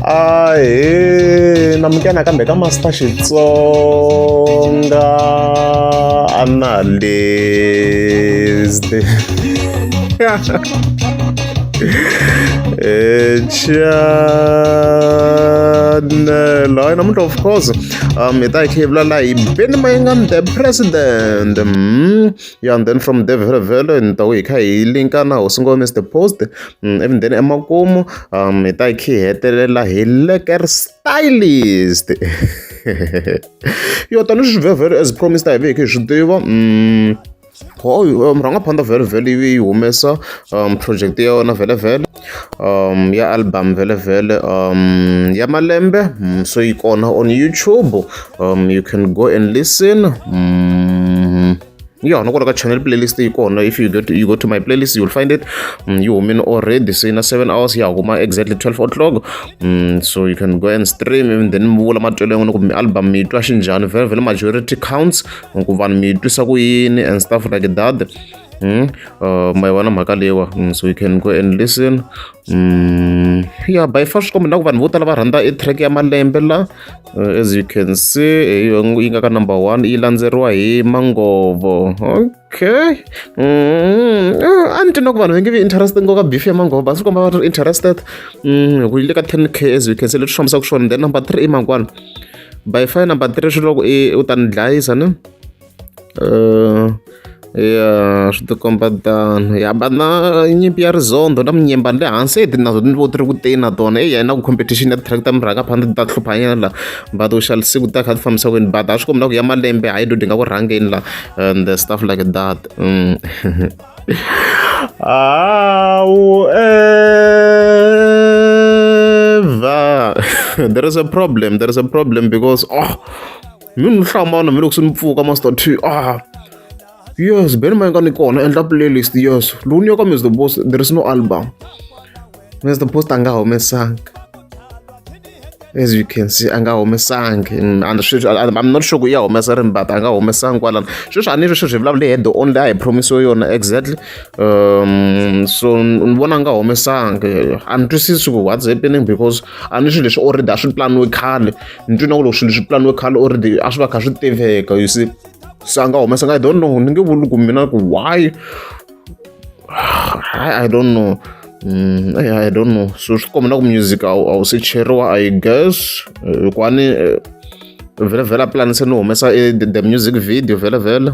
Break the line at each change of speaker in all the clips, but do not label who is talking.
ahe na mukena kambe ka master xitsonga analyst chanel hayi namuntlha of course um hi ta hi khevula laha hi beni mayingam the president mm. ya and then from there vhele vhele ni ta ku hi kha hi linka na hosi ngo mister post ivi then emakumu um hi ta hi kha hi hetelela hi leker stylist yo tanihi swi vhele vhele as promised a hi ve hi kha hi swi tiva murhangaphanḓa vhele vhele yi humesa um project ya yona vhele vhele um ya album vhele vhele um ya malembe mm, so yi kona on youtube um you can go and listen mm. yeah no ka channel playlist yi kona if you go to, you go to my playlist you'll find it mm, you humile already so in a seven hours ya huma exactly 12 o'clock mm, so you can go and stream and then mi vula matwelo yan'wina kumbe album mi twa xinjhani vhele vhele majority counts ku vanhu mi twisa ku yini and stuff like that Hmm? Uh, ma yi vona mhaka leyiwa hmm, so you can go and listen um ya by far swi kombe na ku vanhu vo tala va rhandza i track ya malembe la uh, as you can see yi nga ka number one yi landzeriwa hi mangovo okay hmm, uh, a ni twi na ku vanhu va nge vi interested ngoka beef ya mangovo va swi komba va ri interested hi ku yi le ka ten k as you can see leswi fambisaka swona then number three i mangwana by far number three swi loko i u ta ni dlayisa ni Uh, ya swi tikomba tano ya va na nyimpi ya rizondo na minyemba le hansi eti nazo ni vo ti ri ku teni na tona eya na ku competition ya ti-tractor mi rhanga phana ti ta hluphanyana la but u xala siku ta kha ti fambisa kwini but a swi kombi na ku ya malembe hayi do di nga ku rhangeni la and the stuff like that mm. awu eva there is a problem there is a problem because oh mi ni hlambana mi loko se mi pfuka master t ah yes ben ma nga ni kona endla playlist yes lowu ni yo ka mr boss there is no album mr boss a nga humesanga as you can see a nga humesangi and sweswi i'm not sure ku ya humesa rini but a nga humesangi kwalano sweswi a ni ri sweswi hi vulavula hi head only a hi promisiwe yona exactly um so ni vona a nga humesangi a ni twisisi ku what's happening because a ni swilo leswi already a swi planiwe khale ni twi na ku loko swilo swi pulaniwe khale already a swi va kha swi tiveka you see se a nga humesa nga i don't know ni nge vuli ku mina ku why i don't know Mm, I, I don't know so swi komba na ku music a wu se cheriwa i guess eh, hikwani eh, vhele vhele a pulanise ni humesa eh, the music video vhele vhele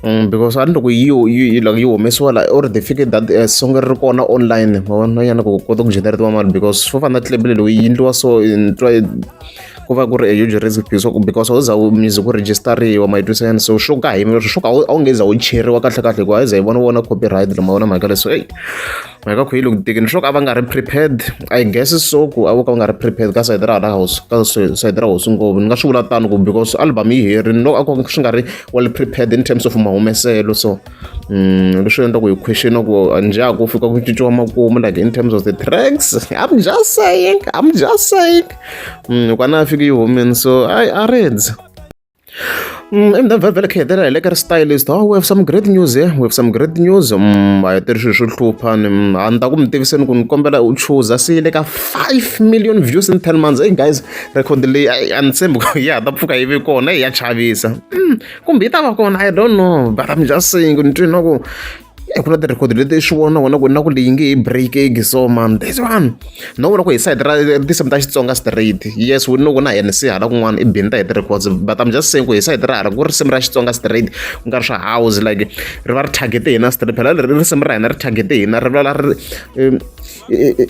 Mm, because a ni loko yi yi like yi humesiwa la or they fike that uh, song ri ri kona online ma vona yana ku kota ku generatiwa mali because fo fana tlebele loyi yi endliwa so twa ku va ku ri a huge risk because u za u music ku register-riwa ma yi twisa yani so swo ka hi swo ka a wu nge za u cheriwa kahle kahle hikuva a yi za yi vona vona copyright lama vona mhaka leswi eyi hi ka khuyilo ngitekini swo ka va nga ri prepared i guess so ku a vo ka va nga ri prepared ka sayiti ra hala house ka sayiti ra hosi ngopfu ni nga swi vula tano ku because album yi herini loko a ko swi nga ri well prepared in terms of mahumeselo so mm, leswi endla ku hi question ku njha ku fika ku cinciwa makumu like in terms of the tracks i'm just saying i'm just saying mm, kwana a fike yi humini so i areads Mm, endzhaku vhele kha hetelela hi le ka ri stylist oh we have some great news eh? we have some great news mm, a hi tiri swilo swo hlupha ni mm, a ni ta ku mi tiviseni ku ni kombela u chuza se yi le ka five million views in ten months hey guys record leyi a ni tshembi ku ya ta pfuka yi ve kona ya chavisa kumbe yi ta va kona i don't know but i'm just saying ni twi na ku Eh, ku na ti-record leti i swi vona wena ku na ku leyi nge hi break ege so man this one no vona ku hi side ra tinsimu ta xitsonga straight yes we know ku na hi nc hala kun'wana i bini ta hi ti-records but i'm just saying ku hi side ra hala ku risimu ra xitsonga straight ku nga ri swa house like ri va ri targete hina straight phela leri risimu ra hina ri targete hina ri lwala ri eh, eh,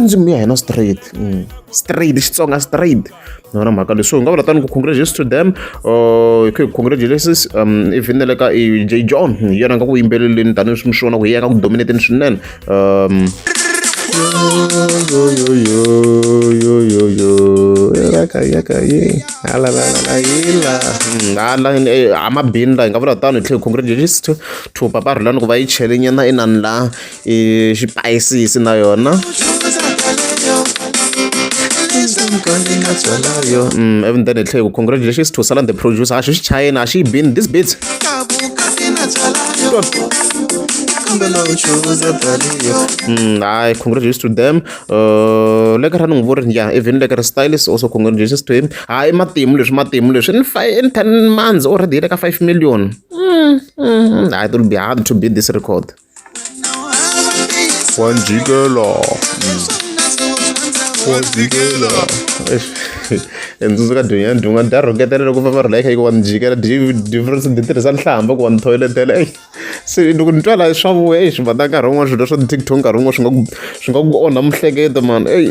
ndzimi ya hina straight mm. straight xitsonga straight ni vona mhaka leswi u nga vula tani ku congratulations to them uh, ku congratulations um even le ka j john hi yena nga ku yimbeleleni tanihileswi mi swi vona ku hi yena nga ku dominateni swinene um amabini la hi nga vula tano hi tlhe congratulations to papa rhulani ku va yi chele nyana inani la xipayisisi na yona mm, even then hi tlhe ku congratulations to salan the producer a xi xi chayeni a xi yi bini this bit Mm, I congratulations to them. Uh, le ka ra ni n'wi vurini ya even le ka ri stylist also congratulations to him. Hayi matimu leswi matimu leswi in five in ten months already le ka five million. Mm, mm, I will be hard to beat this record. Juan Gigolo. Juan Gigolo. Endzundzu ka dunya dunga da rhoketela loko va va ri like hikuva ni jikela difference ni tirhisa nhlamba ku wa ni thoyletela eyi se loko ni twa laha swa vuya eyi swi vata nkarhi wun'wana swilo swa ti-tiktok nkarhi wun'wana swi nga ku swi nga ku onha mihleketo mani eyi